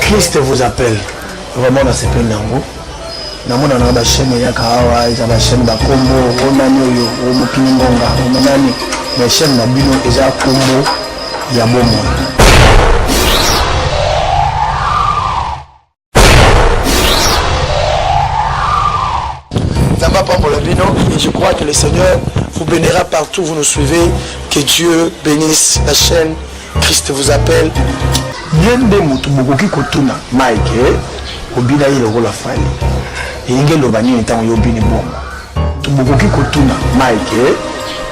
Christ vous appelle. Vraiment na sepeli nango. namona na bachaine eyaka awa eza bachaine bakombo onani oyo omokili ngonga omonani mais chaine na bino eza kombo ya bomoi et je crois que le Seigneur vous bénira partout où vous nous suivez. Que Dieu bénisse la chaîne. Christ vous appelle. ye nde moto bokoki kotuna mike obina ye lokola fali elingi eloba nini ntango yo obini bongo Bokoki kotuna Mike eh?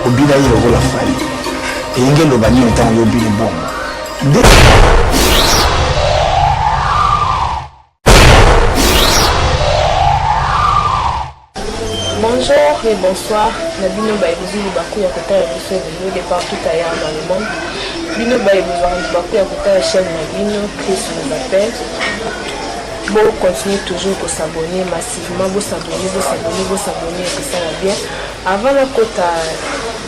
obina ye lokola fali eyenge eloba nini ntango yo obini bongo nde Bonjour et bonsoir na bino baye bozwi baku ya kotala biso ebele de partout ailleurs dans le monde bino baye bozwaka libaku ya kotala chaîne na bino chris nous appelle bo continuer toujours kosabonne Vraiment bo s'abonner, bo s'abonner, bo s'abonner c'est ça la bien. Avant la kota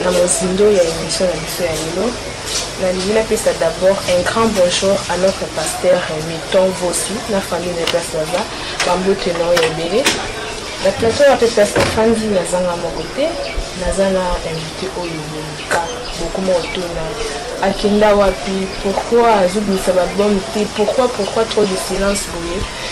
na mozindo ya émission na biso ya lelo nalingi napesa d'abord un grand bonjour à notre pasteur miton vosi na famille na place baza bambote nao ya ebele na plateau ya mpe place nafandi nazanga moko te naza na invité oyo bonika bokoma otuna akenda wapi pourquoi azobimisa babome te pourquoi pourquoi trop de silence boye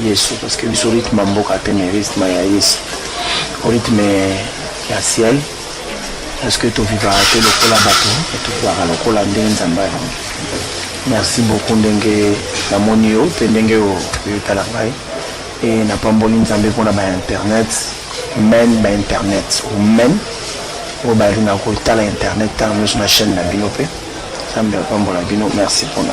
Yesu parce que biso rythme ya mboka te mais rythme ya Yesu o rythme ya ciel parce que tovivaka te lokola bato tovivaka lokola ndenge nzambe ayango merci beaucoup ndenge namoni yo mpe ndenge oyo oyotala ngai e napamboli nzambe mpona bainternet men bainternet omen oyo balingaka kotala internet ntango nyonso na chaîne na bino mpe nzambe apambola bino merci mpona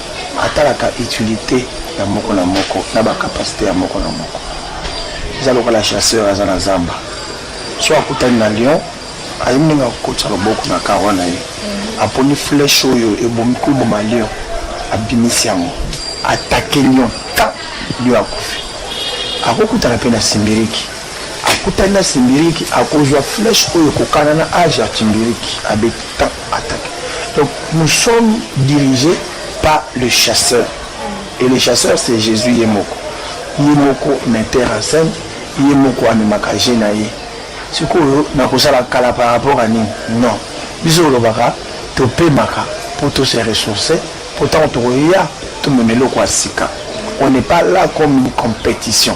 atalaka utilité ya moko na moko na ba capacité ya moko na moko eza lokola chasseur aza na zamba so akutani na lion ayebi ndenge akokotisa loboko na karo na ye mhm. aponi flèche oyo ebomi koboma lion abimisi yango atake lion ta lion akufi akokutana mpe na simbiriki akutani na simbiriki akozwa flèche oyo ekokana na age ya simbiriki abeta Attaque. Donc nous sommes dirigés par le chasseur. Et le chasseur c'est Jésus Yemoko. Yemoko metteur en scène, Yemoko amemaka je na ye. Sikoyo nakosala kala par rapport à nini? Non. Biso olobaka topemaka mpo to se ressourcer mpo ntango tokoya tomema eloko ya sika. On n'est pas là comme une compétition.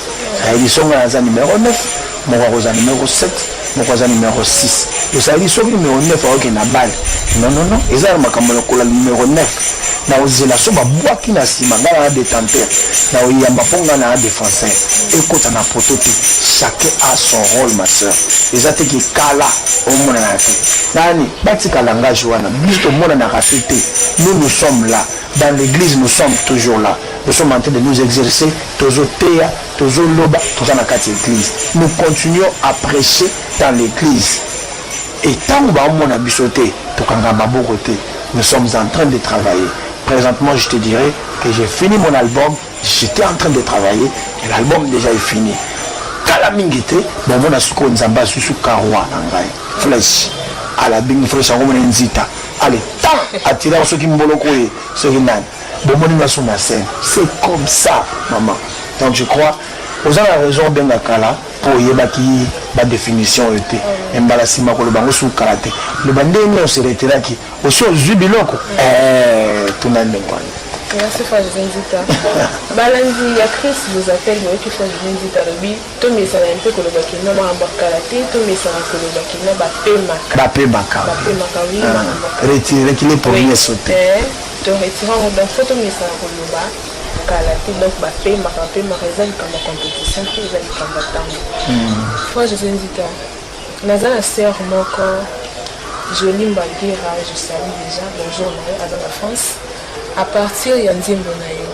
na emission ngai naza numero 9 moko akozala numero 7 moko aza numero 6 ezali soki numero 9 aoke na bale nonono eza na makambo lokola numero 9 na ozela so babwaki na nsima ngai na detenteur na oyamba mpo ngai na defenseur ekota na poto te chacun a son rôle ma sœur eza te kikala omonana te nani batika langage wana biso tomonanaka te te nous nous sommes là dans l'église nous sommes toujours là nous sommes en train de nous exercer Tozo teya, tozo loba, toza na kati ya eglise. Nous continuons à precher dans l'eglise. Et tango ba omona biso te, to kanga maboko te. Nous sommes en train de travailler. Presentement, je te dirais que j'ai fini mon album, j'étais en train de travailler et l'album déjà est fini. Kala mingi te, ba omona siko nzamba susu karwa na ngai. Flèche. Ala bingi flèche yango mona nzita. Allez, tant atira soki mboloko ye, soki nani. bomoni nga sur la scène c'est comme ça maman donc je crois oza na raison obenga kala mpo oyebaki badefinition oyo te me mbala nsima koloba yango suki kala te loba ndenge nini oseretelaki osi ozwi biloko eh, tuna ndenge wana Merci Fajri Nzita. Balandi ya Chris vous appelle, mais qui Fajri Nzita, le Tomesana mpe koloba ke na makambo ya kala te, tomesana koloba ke na bapemaka. Bapemaka. Bapemaka, oui, ah, makambo ya kala. Retire ki le premier sauté. Eh, to retire yango, donc faut tomesana koloba kala te, donc bapemaka, bapemaka eza likambo ya compétition te, eza likambo ya ntango. Hmm. Fois Jose Nzita, naza na sœur moko, Jolie Mbagira, je salue déjà, bonjour na yo, aza na France. À partir ya nzembo na yo,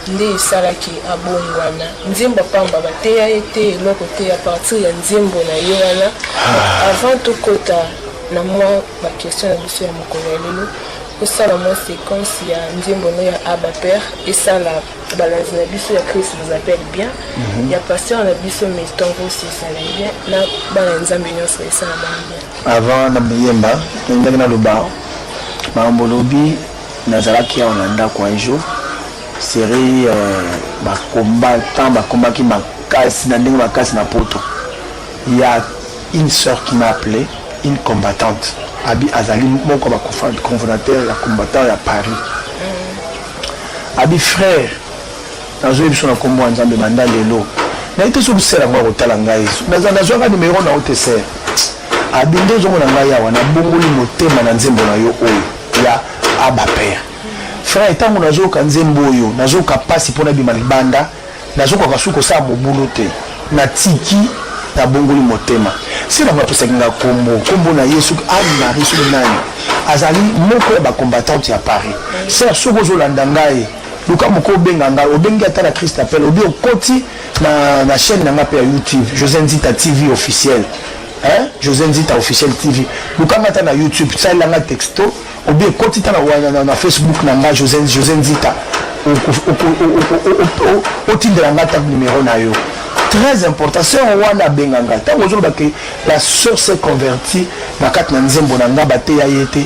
nde esalaki abongwana nzembo pamba bateya ye te eloko te ya partir ya nzembo na ye wana ah. avant tokota na mwa bakestion na biso ya mokolo ya lelo osala mwa séquence ya nzembo no ya abaper esala balanzi na biso ya christ nous appelle bien mhm. ya pasteur na biso metongosi esala bien na bana nzambe nyonso esala bango bien avant na boyemba nalingaki naloba makambo olobi nazalaki awa na ndako un jour serie euh, bacombattant bakombaki makasi na ndenge makasi na poto ya une sœur qui m'a appelé une combattante abi azali moko ya baconfrondateur ya combattant ya paris abi frère nazoyi biso na nkombo ya nzambe banda lelo naye te soki sere yango akotala ngai nazwaka nimero na yo te sere abi nde ozomona ngai awa nabongoli motema na nzembo na yo oyo ya Abba Père. Frère, ntango nazoyoka nzembo oyo nazoyoka mpasi mpo nabima libanda, nazokoka suki kosala mobulu te, natiki nabongoli motema. Sila bapesaki nga nkombo, nkombo na ye soki Anne Marie soki nani azali moko ya bacombattante ya Paris. Sœur, soki ozolanda ngai luka moko obenga ngai, obengi ata na Christ appel, obi okoti na, na chaîne na ngai mpe ya YouTube, José Nzita TV officiel. Hein? José Nzita officiel TV. Lukanga ta na YouTube, ça il a texto. Ou bien koti ta na na, na Facebook na nga José José Nzita. otindela nga ta numéro na yo très important sœur wana abenga nga ntango ozoloba ke la sœur s'est convertie na kati na nzembo na nga bateya ye te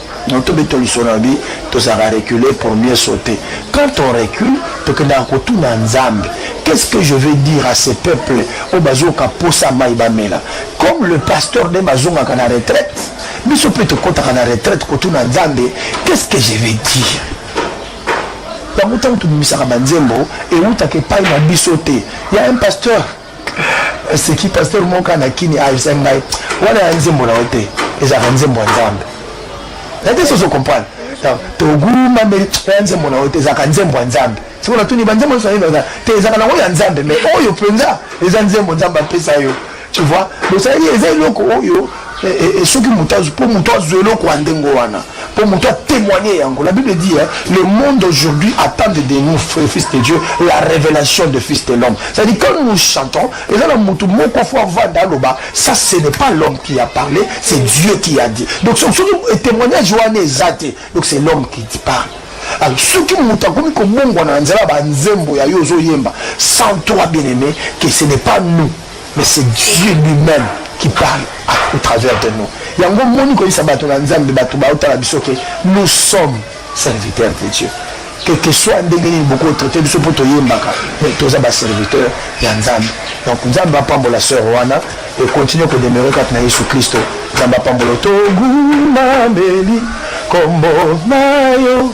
Donc to beto lisolo na bi tozaka reculer pour mieux sauter. Quand on recule, tokendaka kotuna Nzambe. Qu'est-ce que je vais dire à ces peuples au bazoka posa mai bamela? Comme le pasteur de bazongaka na retraite, biso mpe tokotaka na retraite kotuna Nzambe, qu'est-ce que je vais dire? yango ntango tobimisaka banzembo ewutaka epai na biso te ya un pasteur seki pasteur moko na kini ayebisa ngai wana ya nzembo na yo te ezalaka nzembo ya nzambe na te soso comprendre toguma mbeli ya nzembo na yo te ezalaka nzembo ya nzambe sikoyo natuni banzembo nyonso naino te ezalaka nango ya nzambe mais oyo mpenza eza nzembo nzambe apesa yo tu vois bosaleli eza eloko oyo Eh, eh, eh, soki moto mpo moto azwa eloko ya ndenge wana mpo moto atémoigne yango la bible dit le monde aujourd'hui attend de nous fils de dieu la révélation de fils de l'homme c'est à dire quand nous chantons eza na moto moko fo avanda aloba ça ce n'est pas l'homme qui a parlé c'est dieu qui a dit donc soki témoignage wana eza te donc c'est l'homme qui parle alors soki moto akomi kobongwana na nzela banzembo ya yo ozoyemba sans toi bien aimé que ce n'est pas nous mais c'est Dieu lui-même qui parle au travers de nous yango moni koyisa bato na nzambe bato baotala biso ke nous sommes serviteur de Dieu quel que soit ndenge nini boko traite biso mpo toyembaka mais toza baserviteur ya nzambe donc nzambe apambola sœur wana ekontinue kodemeure kati na yesu kristo nzambe apambola togumameli kombo na yo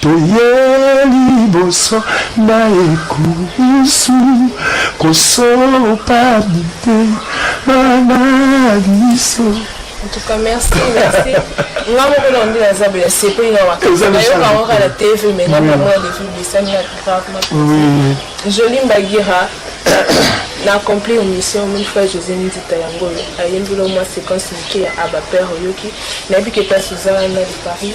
toye liboso na ekulusu kosopa mitema na biso En tout cas, merci, merci. Nga moko na ndi naza boye sepeli na wakanisa nayoka yango kaka na tv mais nga mama ya levi bisani na grave na joli mbagira na accompli mission mille fois josé nzita yango oyo ayembeli omwa séquence moke ya abapere oyoki nayebi ke place oza na de paris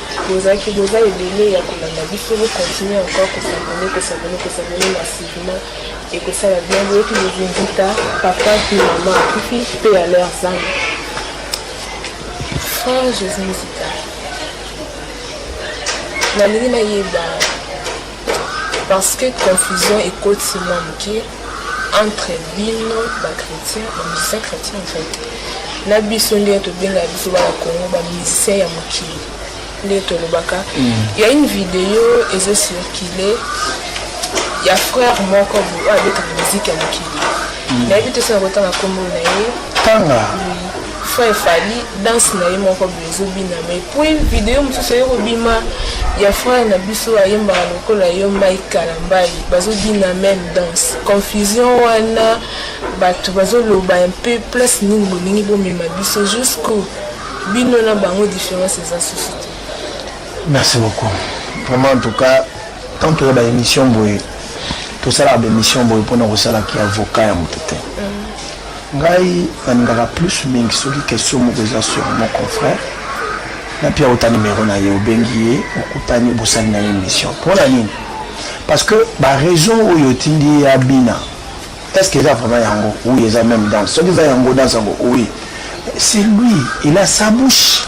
Bozalaki boza ebele ya kolanda biso bo continuer encore ko s'abonner ko s'abonner ko s'abonner massivement et ko sala bien boyoki bozinzita papa mpe mama akufi mpe ya leur zame frère jésus nzita nalingi nayeba parce que confusion ekoti mwa moke entre bino ba chrétien ba musicien chrétien en fait na biso nde tobengaka biso bana congo ba musicien ya mokili nde tolobaka mm. ya une video ezo circule ya frère moko oyo abetaka miziki ya mokili mm. nayebi te soki akotanga nkombo na ye tanga Frère Fally, danse na ye moko boye ezobina mais puis video mosusu eye kobima ya frère na biso ayembaka lokola yo Mike Kalambayi bazobina même danse. Confusion wana bato bazoloba un peu place nini bolingi bomema biso jusqu'où bino na bango différence eza susu te. Merci beaucoup. Vraiment en tout cas tant toza ba émission boye tosalaka ba émission boye mpona kosalaki avocat ya moto te. Mm. Ngai na lingaka plus mingi soki question moko eza sur mon confrère na pia ota numero na ye obengi ye okutani bosali na ye émission mpona nini parce que ba raison oyo otindi ye abina est ce que eza vraiment yango oui eza même danse soki eza yango danse yango oui c'est lui il a sa bouche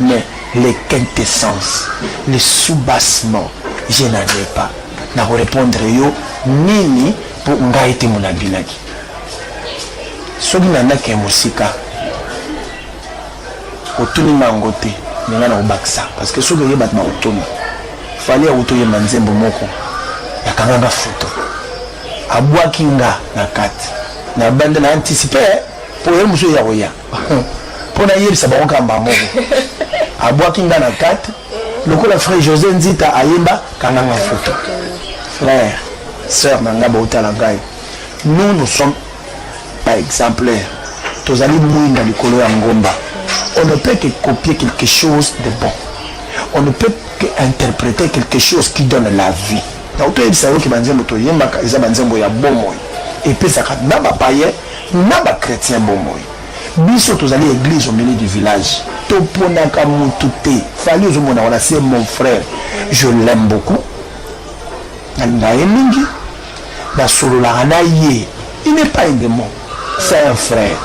Mais le quintessence, le soubassement, je n'en ai pas. Na ko répondre yo nini po ngai te mona binaki. Soki na ndaki ya mosika otuni nga yango te, mais nga na kobakisa parce que soki oye bato bakotuna fali ya kutu oyemba nzembo moko yakanga nga foto abwaki nga na kati na banda na anticipe po ye mosusu ya koya mpo nayebisa bango kaka mbala moko abwaki nga na kati lokola frère josé nzita ayemba kanganga foto frère sœur na ngai baotala ngai nous nous sommes pas exemplaire tozali mwinda likolo ya ngomba on ne peut que copier quelque chose de bon on ne peut que interpréter quelque chose qui donne la vie donc toyebisa yo ke banzembo toyembaka eza banzembo ya bomoi epesaka na bapaye Na ba chretiens bomoi biso tozali eglise au milieu du village toponaka mutu te fally ozomona wana c'est mon frère je l'aime beaucoup nalinga ye mingi nasololaka na ye il n'est pas un démon c'est un frère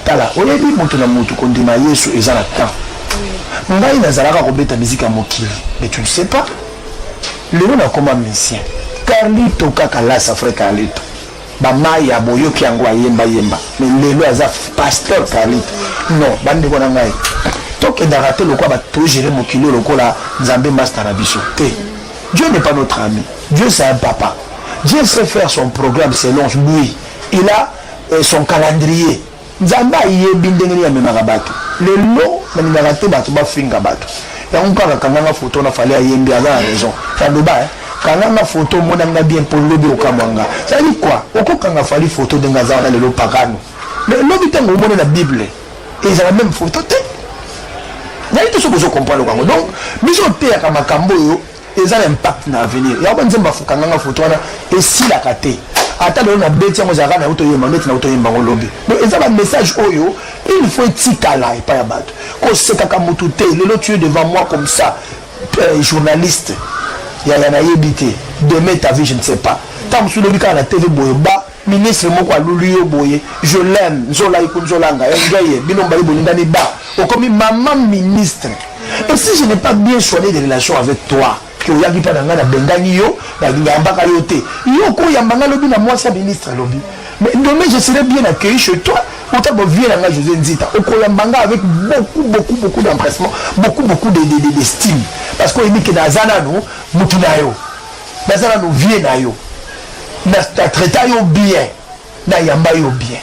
tala oyebi moto na moto kondima yesu eza na temps ngai nazalaka kobeta miziki ya mokili mais tu ne sais pas lelo nakoma musicien carlito kaka lasa fre carlito Ba mayi ya boyoki yango ayemba yemba mais lelo aza pasteur Carlito non bandeko na ngai tokendaka te lokola bato togere mokili lokola nzambe masta na biso te dieu n'est pas notre ami dieu c'est un papa dieu sait faire son programme selon lui il a euh, son calendrier Nzambe ayebi ndenge nini amemaka batu lelo nalingaka te batu bafinga batu yango kaka kanganga foto na fale ayembi aza na raison aloba eh? kanganga foto omona nga bien mpo lobi okamwa nga zali kwa okokanga fali foto ndenge aza wana lelo pakano lobi ntango omoni na bible ezala meme foto te nayite soki ozo comprendre yango donc biso oteyaka makambo oyo eza na impact na avenir yango nzembo afukanganga foto wana esilaka te ata lelo na beti yango ezalaka na yango toyemba neti na yango toyemba yango lobi do eza bamessage oyo il faut etikala epai ya bato kosekaka motu te lelo tue devant moi comme ça euh, journaliste yaya nayebi te demain ta vie je ne sais pas ntango mosusu lobi kaka na tv boye ba ministre moko aluli yo boye je l'aime nzola iku nzola nga enjoy ye bino mbali bolingani ba okomi mama ministre et si je n'ai pas bien soigné des relations avec toi que oyaki mpa na ngai nabengani yo nayambaka yo te yo okoyamba ngai lobi na mwasi ya ministre alobi mais demain je serai bien accueilli chez toi ota bovie na ngai josé nzita okoyamba ngai avec beaucoup beaucoup beaucoup d'empressement beaucoup beaucoup d'estime parce que oyebi ke naza nano motu na yo naza nanu vie na yo na traita yo bien nayamba yo bien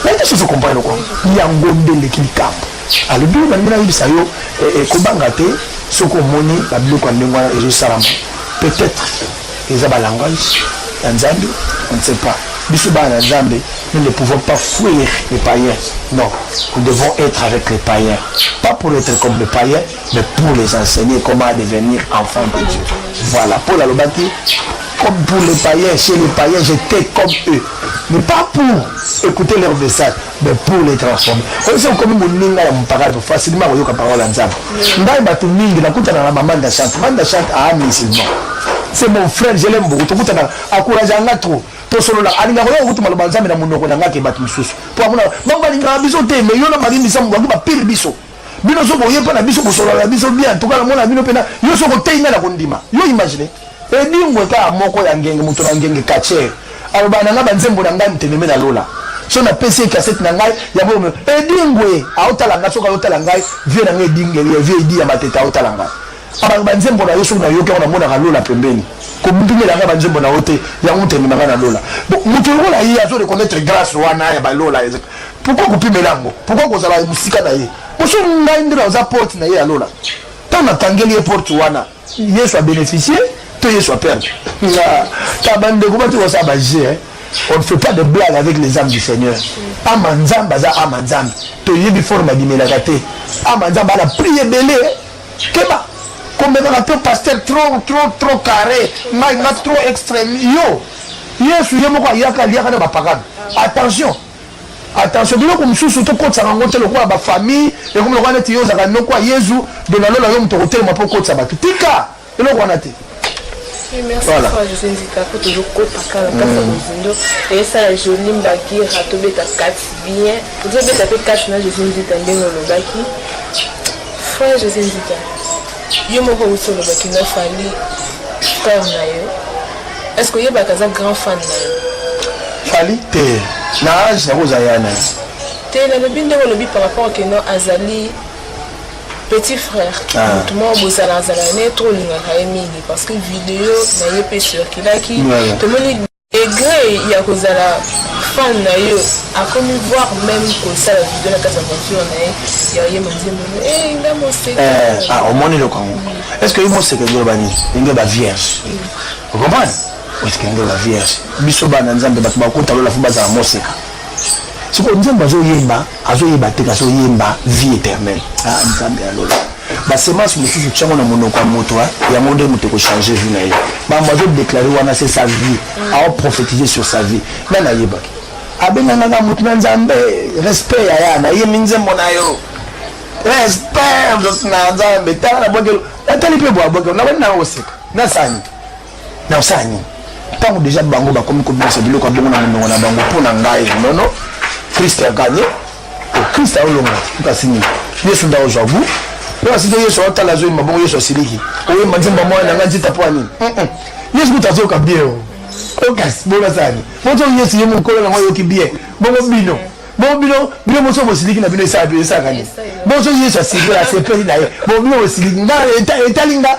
naye te soso comprendre kwango yango nde eleki likambo alobi oyo nalingi nayebisa yo eh, eh, kobanga te soki omoni babiloko ya ndenge wana ezosalama peut-être eza balangage ya nzambe on ne sait pas biso bana na nzambe nous ne pouvons pas fuir les païens non nous devons être avec les païens pas pour être comme les païens Mais pour les enseigner comment à devenir enfant de Dieu. Voilà, Paul alobaki comme pour les païens, chez les païens, j'étais comme eux. Mais pas pour écouter leur message, mais pour les transformer. Oyo sio comme moninga ya mpakatu facilement koyoka parole ya Nzambe. Ngai bato mingi nakutana na maman de chante. Maman de chante a musulman. C'est mon frère, je l'aime beaucoup. Tokutana encourage anga trop. tosolola alinga koyoka kutu maloba nzambe na monoko na ngai ke bato mosusu mpo amona bango balingaka biso te me yo na marie misamu bango bapile biso bino soki oye mpo na biso kosolola na biso bien antuka namona bino mpena yo soki oteyi ngai na kondima yo imagine edingwe kaka moko ya ngenge moto na ngenge kacher alobaka na ngai banzembo na ngai moteleme na lola so napesi ye kasete na ngai yango edingwe aotala ngai soki aotala ngai vie na ngai edinge vie edi ya matete aotala ngai abanga banzembo na yo soki nayoki yango namonaka lola pembeni kobimela ngai banzembo na yo te yango moteleme na ngai na lola moto lokola ye azo reconnaître grâce wana ya balola Pourquoi kopimela yango? Pourquoi kozala musika na ye? Poso ngai nde naza porte na ye ya lola. Ntango nakangeli ye porte wana, Yesu a beneficie to Yesu a perdre? Ta bandeko bati kosala ba jeu hein. On ne fait pas de blague avec les âmes du Seigneur. Ama Nzambe aza ama Nzambe. Toyebi forme abimelaka te. Ama Nzambe ana priye ebele. Eh. Keba komemaka to pasteur trop trop trop carré ngai nga trop extrême yo yesu ye moko ayaka aliaka na bapakano attention Attention biloko mosusu tokotisaka yango te lokola ba famille ekomi lokola neti yo ozalaka noko ya Yezu de na lola yo moto okotelema mpo okotisa bato tika eloko wana te merci voilà. fois jose nzika mpo tozokopa kaka kati ya mozindo eyesala joli mbagira tobeta kati bien tozobeta mpe kati na jose nzika ndenge olobaki fois jose nzika Yo moko usi olobaki nga fali frère na yo est ce que oyebaka aza grand fan na yo fali te na age yango oza ya na te nalobi ndenge olobi par rapport keno azali petit frère ah. motu moko bozalazala ne trop olingaka ye mingi parce que video na ye mpe circulaki tomoni Degre ya kozala fan na yo akomi voir meme kosala video na kati ya voiture na ye ya oyemba nzembo no e eh, nga moseka eh, ah, omoni eloko yango est ce que yo moseka nde oloba nini ndenge ba vierge okomprendre est ce que ndenge ba vierge biso bana nzambe bato bakotalola fo bazala moseka sikoyo nzambe azoyemba azo yeba te kaso yemba vie éternelle ah nzambe ya lola ba semence mosusu tiango na monoko ya moto yango nde moto ekochange vie na ye bambo azo déclare wana se sa vie ao prophétise sur sa vie ngai nayebaki abengangaka moto na nzambe respect yaya nayemi nzembo na yo respect na nzambe tala na bwakelo natali mpe bwa bwakelo nabandi nanga koseka nasani na osala nini ntango deja bango bakomi kobimisa biloko ya bongo na monoko na bango mpo na ngai nono krist aganye oh, krist aolonga kasi nini yesu nda ozwa gu mpo asite yesu aotala azoyemba bongo yesu asiliki oyemba nzemba mwana na ngai nzita mpo ya nini yesu kuta azoyoka bie o okasi bongo asala nini moto yesu ye mokolo nango ayoki bie bongo bino bo bino bino moso bosiliki na bino esalaka nini boso yesu asiliki asepeli na ye bo bino bosiliki nga etali nga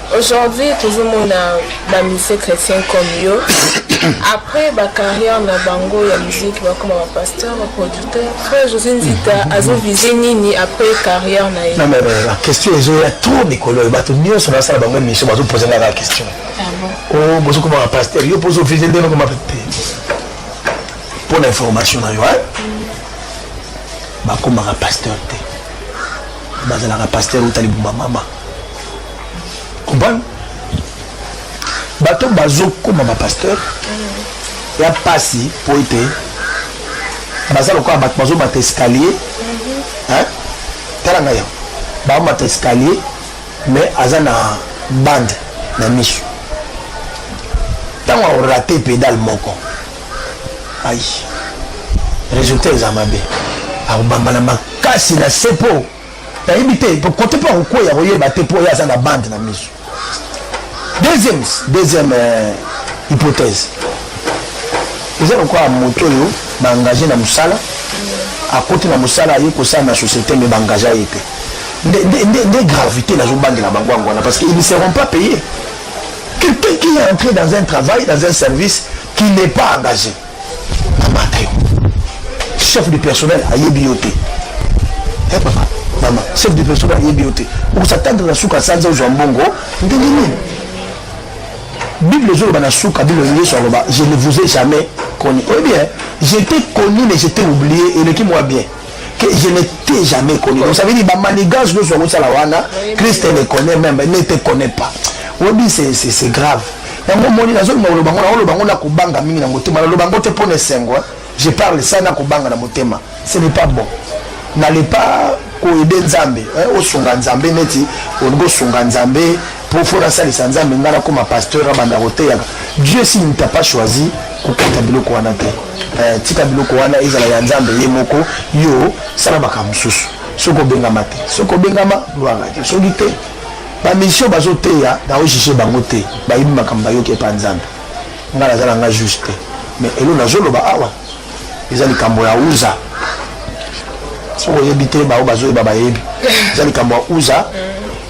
Aujourd'hui tozo mona ba musiciens chrétiens comme yo après ba carrière na bango ya musique bakoma ba pasteur ba producteur frère José Nzita mm-hmm. azo viser nini après carrière na ye. Non mais euh, la question ezo ya trop mikolo bato nyonso na sala bango mission bazo poser nga la question. Ah bon. Oh bozo koma ba pasteur yo pozo viser ndenge koma pe. Pour l'information na yo hein. Mm. Bakoma ba pasteur te. Bazalaka pasteur utali buma mama. comprendre bato bazokoma bapasteur ya mpasi mpo ete baza lokola bato bazomata escalier mhm. tala ngai yango baomata escalier mais aza na bande na miso ntango aorate pedale moko ai résultat eza mabe akobamba na makasi na sepo nayebi te kote mpo akokweya koyeba te mpo ye aza na bande na miso deuxième deuxième euh, hypothèse eza lokola moto oyo baengage na mosala akoti na mosala aye kosala na société me baengage ye te nde gravité nazobandela bango yango wana parce qu'ils ne seront pas payés quelqu'un qui est entré dans un travail dans un service qui n'est pas engagé bamata yo chef du personnel ayebi yo te eh, papa mama chef du personnel ayebi yo te okosatandre na suka sanza ozwa mbongo ndenge nini bible ezoloba na suka bible yesu aloba je ne vous ai jamais connu oyebi eh? j'étais connu mais j'étais oublié eleki mwa bien que je n'étais jamais connu. Donc ça veut dire que Manigas, nous sommes à la Wana, Christ ne connaît même, ne te connaît pas. Obi, c'est grave. yango omoni nazoloba koloba ngo nakoloba ngo na kobanga mingi na motema naloba ngo te mpo na esengo je parle sa na kobanga na motema ce n'est pas bon nale pas koyede nzambe osunga nzambe neti olingi osunga nzambe Profo na salisa nzambe nga na koma pasteur na banda koteyaka Dieu si ne t'a pas choisi kokata biloko wana te eh, tika biloko wana ezala ya nzambe ye moko yo sala makambo mosusu soki obengama te soki obengama lwanga te soki te bamisio bazoteya naojuge bango te bayebi makambo bayoki epa nzambe nga naza na nga juge te mais elo nazoloba awa eza likambo ya uza soki oyebi te baoyo bazoyeba bayebi eza likambo ya uza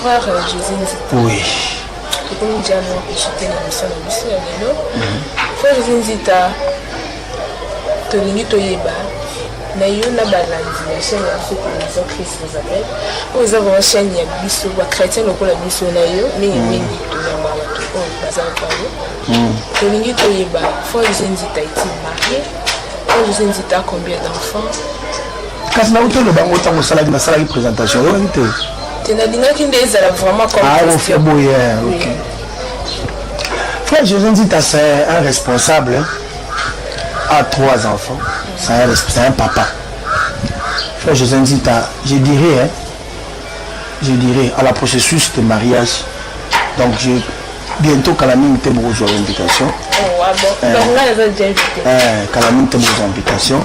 Frère José Nzito. Oui. Tokomi déjà mwa koshite na biso na biso ya lelo. Mhm. Frère José Nzita, tolingi toyeba na yo na balandi ya chaîne ya biso télévision christ vous appelle oyo eza vraimen chaîne ya biso bachrétien lokola biso na yo mingi mhm. mingi toyamba bato oyo baza lokola yo mhm. tolingi toyeba frère José Nzita eti marie frère José Nzita combien d'enfants kasi nauti oloba yango ntango osalaki nasalaki présentation oyokaki te te nalingaki nde ezala vraiment comeofia ah, boye ok frère josé nzita c'est un responsable a trois enfants c'est un papa frère josé nzita je dirais hein, je dirais à la processus de mariage donc je bientôt kala mingi te bokozwa invitation oh, ah eh, eh, kala mingi te bokozwa invitation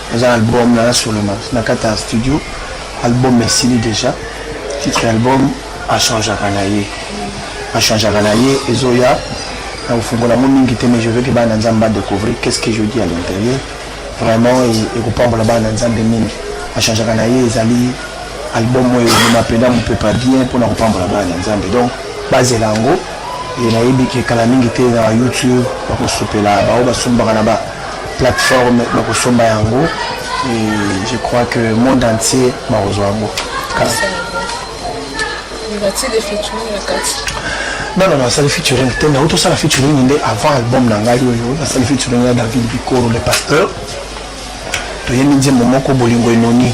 Naza na album na nasolema na kati ya studio, album esili deja, titre ya album achangeaka na ye achangeaka na ye ezoya na kofungola yango mingi te mais je veux ke bana nzambe ba découvrir qu'est ce que je dis à l'intérieur vraiment ekopambola bana nzambe mingi achangeaka na ye ezali album oyo ebima mpenza mopepa bien mpona kopambola bana na nzambe donc bazela yango nayebi ke kala mingi te na youtube bakosopela baoyo basombaka na ba plateforme bakosomba yango et je crois que monde entier bakozwa yango non non nasali featuring te mais otosala featuring nde avant album na ngai oyo nasali featuring ya david bikoro le pasteur toyebi nzembo moko bolingo enoni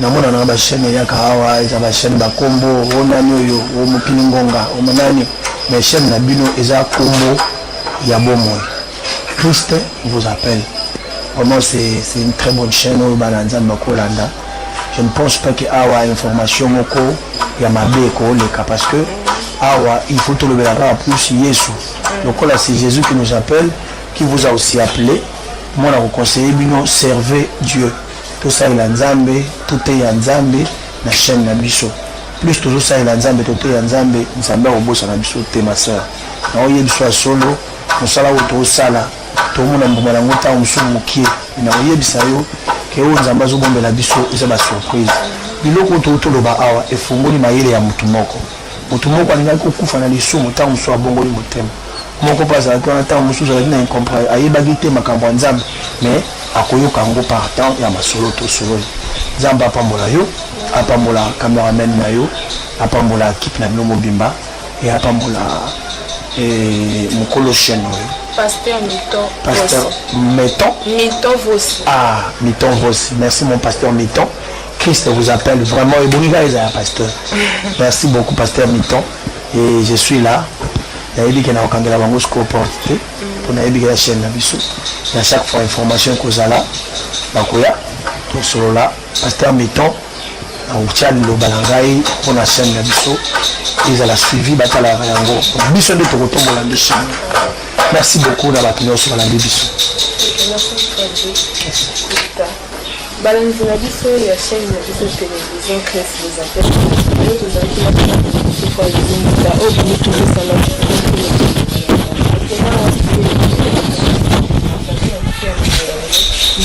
namona na ba chaîne eyaka awa eza ba chaîne ba kombo o nani oyo o mokili ngonga o nani mais chaîne na bino eza kombo ya bomoi Christ vous appelle vraiment c'est c'est une très bonne chaîne oyo bana nzambe bakolanda je ne pense pas que awa information moko ya mabe ekoleka parce que awa il faut tolobela kaka plus yesu lokola c'est jésus qui nous appelle qui vous a aussi appelé moi na koconseille bino servez dieu Tosalela Nzambe, toteya Nzambe na chaine na biso. Plus tozosalela Nzambe, toteya Nzambe, Nzambe akobosana biso te ma sœur. Na oye biso ya solo, mosala oyo tozosala, tomona mbuma na yango ntango mosusu mokie. Na koyebisa yo ke oyo Nzambe azobombela biso eza ba surprise. Biloko oyo touti toloba awa efungoli mayele ya motu moko. Motu moko alingaki kokufa na lisumu, ntango mosusu abongoli motema. moko mpe azalaki wana ntango mosusu azalaki na incomprendre ayebaki te makambo ya nzambe mais akoyoka yango par temps ya masolo tosololi nzambe apambola yo apambola cameraman na yo apambola kipe na bino mobimba e apambola eh, mokolo chaine oyo pasteur miton pasteur miton miton vosi ah miton vosi merci mon pasteur miton christ vous appelle vraiment ebongi kaka ezala pasteur merci beaucoup pasteur miton Et je suis là. nayebi ke nakokangela bango sikoyo porte te mpo nayebi ke ya chaîne na biso na chaque fois information ekozala bakoya tosolola pasteur miton nakotya liloba na ngai mpo na chaîne na biso ezala suivi batalaka yango biso nde tokotombola nde chaîne merci beaucoup na bato nyonso balandi biso Balandi na biso ya chaine na biso television Chris les appels oyo tozalaki na biso kwa ezingisa oyo boni tozosala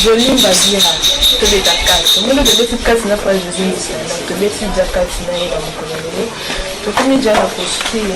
jolie mbazira tobeta kati omoni tobeti kati na page ezingisa tobeti ja kati na ye na mokolo lelo tokomi ja na postile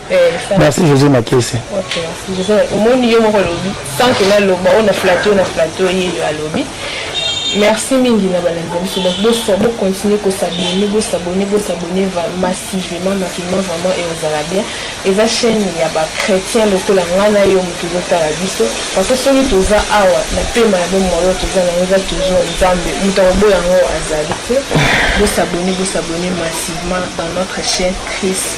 merci josé makese omoni yo moko olobi sans que naloba oyo na flato na flato ye yo alobi merci mingi na balandi na biso donc bosa bocontinue kosabone bosabone bosabone massivement massivement vraiment e ozala bien eza chaîne ya bachrétien lokola ngai na yo moto ezotala biso parce que soki toza awa na pema ya bomoi toza na yango eza toujours nzambe moto akoboya yango azali te bosabone bosabone massivement dans notre chaîne christ